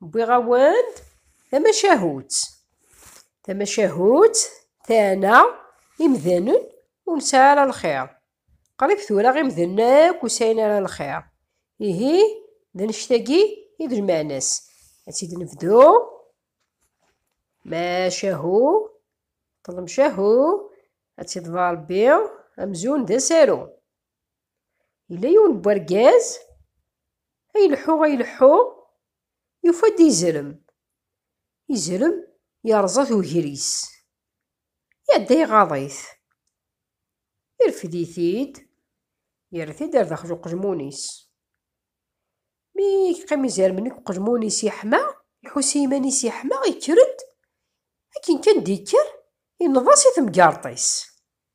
Wwiɣ-awen-d tamacahut. Tamacahut tana imdanen ur nesɛi ara lxir. Qrib tura imdanen akk ur sɛin ara lxir. Ihi d annect-agi i d lmeɛna-s. Ad tt-id-nebdu. Macahu, ṭlem cahu, ad tt-iḍba Rebbi, amzun d asaru. Yella yiwen n wergaz ay ileḥḥu ay ileḥḥu, yufa-d izrem. Izrem yerẓa-t wegris, iɛedda iɣaḍ-it, irfed-it-id, yerra-t-id ɣer daxel uqejmun-is. Mi yeqqim izermen deg uqejmun-is yeḥma, iḥus s yiman-is yeḥma, yekker-d. Akken kan d-yekker, inneḍ-as i temgerḍt-is.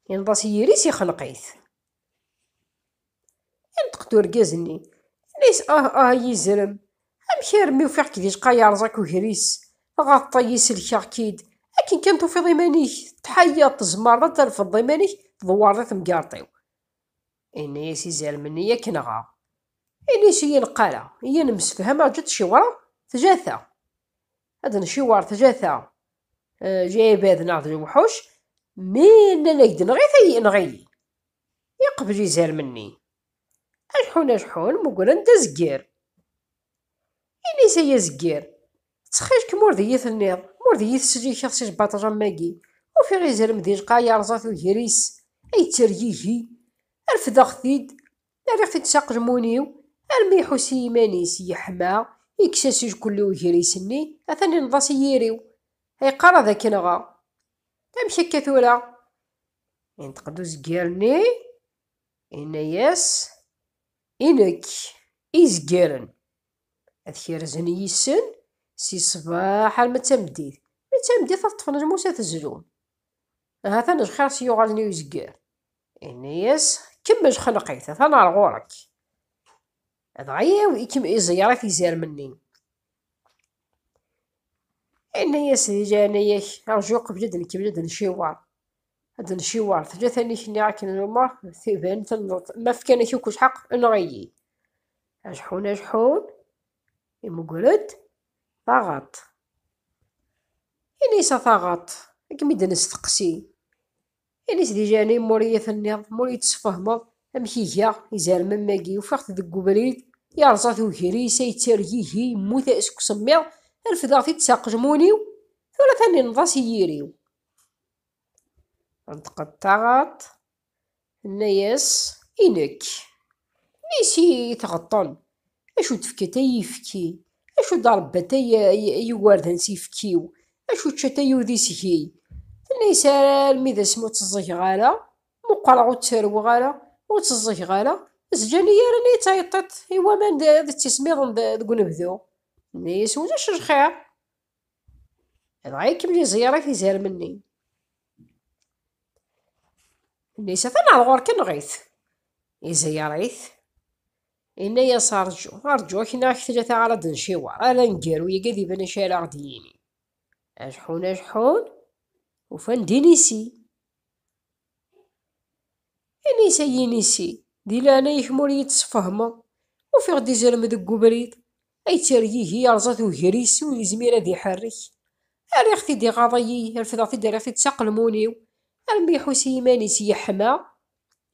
Yenḍa s yiri-s ixneq-it. Inṭeq-d urgaz-nni, yenna-yas, Ah, ah, ay izrem, amek armi ufiɣ-k di lqaɛ yerẓa-k ugris, dɣa teṭṭeyi sellkeɣ-k-id, akken kan tufiḍ iman-ik, tettḥayyaḍ, tzemreḍ ad trefdeḍ iman-ik, tdewwareḍ i temgerḍt-iw. Yenna-yas izrem-nni, Yak nɣeɣ. Ini-as ur yi-neqq ara, iyi nemsefham, rǧu ad t-ciwreɣ, tjata. ad d-nciwer tlata lɛibad neɣ d lewḥuc, mi nnan-ak-d nɣi-t ay inɣi-yi. Yeqbel izermen-nni. Aḥḥun aḥḥun mmugren-d azegger. Ini-as ay azegger, ttxil-k ma ur d iyi-tenniḍ, ma ur d iyi-tesslikeḍ si lbaṭel am wagi, ufiɣ izrem di lqaɛa yerẓa tugir-is, ay ttergigi, refdeɣ-t-id, Rriɣ-t-id s aqelmun-iw armi iḥus i yiman-is yeḥma, yekkes asejkul i ugris-nni, atan inneḍ-as i yiri-w, yeqqar ad k-nɣeɣ. Amek akka tura? Inṭeq-d uzger-nni, yenna-yas, I nekk, i yezgaren, ad kerzen yis-sen si ṣṣbeḥ arma d tameddit, mi d tameddit ad ṭṭfen lmus ad t-zlun. Hatan lxir s-yuɣalen i uzger. Ini-yas, kemmel xelq-it, atan ar ɣur-k. Dɣa yaw ikem iẓeyrat izermen-nni. Ini-yas di leɛnaya-k, rju qbel ad nkemmel ad nciwar. Ad nciwar, tella tanik-nni akken lmer, tiban tenneḍ, ma fkan-ak akk lḥeq, enɣ-iyi. Ajeḥun ajeḥun, imugger-d taɣaṭ. Ini-yas a taɣaṭ, akken mi d-nesteqsi, Ini-s di leɛnaya-m m'ur iyi-tenniḍ, m'ur iyi-d-tesfehmeḍ, amek i gaɣ, izerrem am wagi, ufiɣ-t deg ubrid, yerẓa-t ugris-a, yettargigi, yemmut seg usemmiḍ, refdeɣ-t-id s aqejmun-iw, tura tannineḍ-as i yiri-w. Tenṭeq-d taɣaṭ, tenna-yas, I nekk. Mmi-s i t-ɣeṭṭen, Acu d tefkat ay yefki? Acu d arebbat ay yugardan s yefkiw? Acu d cata ay udi seg-i? Tenna-as armi d asmi ur tt-ẓẓgeɣ ara, muqreɣ ur tt-rewweɣ ara, ur tt-ẓẓgeɣ ara, zǧan-iyi yerran-iyi d tayeṭṭiṭ i waman d tismiḍen deg unebdu. Tenna-as ulac lxir, dɣa ikemmel iẓeyyeṛ-ak izermen-nni. Tenna-as atan ɣer ɣur-k, enɣ-it. Izeyyeṛ-it. Inna-yas rǧu, rǧu akken ak tlata ara d-nciweṛ, ala aneggaru-yagi ad iban acu ara ɣ-d-yini. Ajeḥḥun ajeḥḥun, ufan-d inisi. Inisi ay inisi, di leɛnaya-k ma ur iyi-d-tesfehmeḍ, ufiɣ-d izrem deg webrid, ay ttergigi yerẓa-t ugris ur yezmir ad iḥerrek. Rriɣ-t-id iɣaḍ-iyi, refdeɣ-t-id rriɣ-t-id s aqelmun-iw, armi iḥus i yiman-is yeḥma,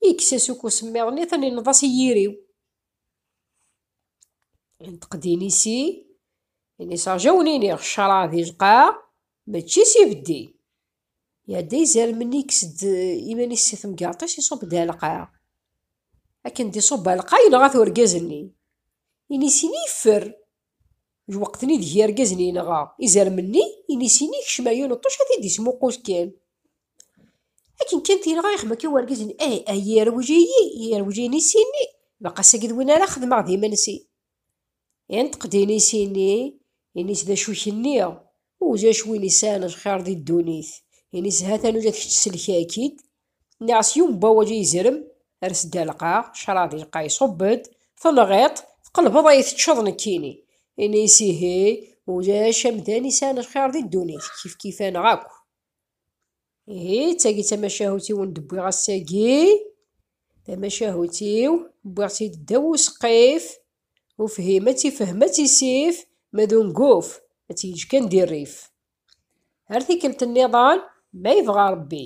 Ikkes-as uku semmiḍ-nni, tennineḍ-as i yiri-w. Yenṭeq Dinisi, ini-s rjawnini, ccṛeɛ di lqaɛ, mačči s ibeddi. Iɛedda izermenni, ikkes-d iman-is si temgerṭ-is, iṣubb-d ar lqaɛ. Akken d-iṣubb ar lqaɛ, yenɣa-t urgaz-nni. Ini-s ini yeffer. Jwaqten ideg irgazen yenɣa izermen-nni, inisi-nni ikcem ɛyun n ṭṭuc ad t-id-ismuqul kan. Akken kan t-yenɣa ixemmem kan wergaz-nni, eh, ay irwij-iyi, irwij inisi-nni, baqq ass-agi d win ara xedmeɣ d imensi. Inṭeq-d inisi-nni, inis d acu kenni, uj acu win yesɛan lxir di ddunit, inis ha tanuja d kečč sellek-ak-id, Nniɣ-as yiwen n wawal i izerem, ers-d ar lqaɛ, ccṛab ilqay iṣubb-d, tenɣiḍ-t, tqelbeḍ a yi-teččeḍ nekkini. Ini-as ihi, ulac amdan isɛan lxiṛ di ddunit, kifkif-aneɣ akk. Ihi, d tagi i d tamacahut i wen-d-wwiɣ ass-agi, tamacahut-iw, wwiɣ-tt-id ddaw useqqif, ufhim ad tt-ifhem ad tt-isif, ma d unguf, ad tt-yeǧǧ kan di rrif. Ar tikkelt nniḍen, ma yebɣa Ṛebbi.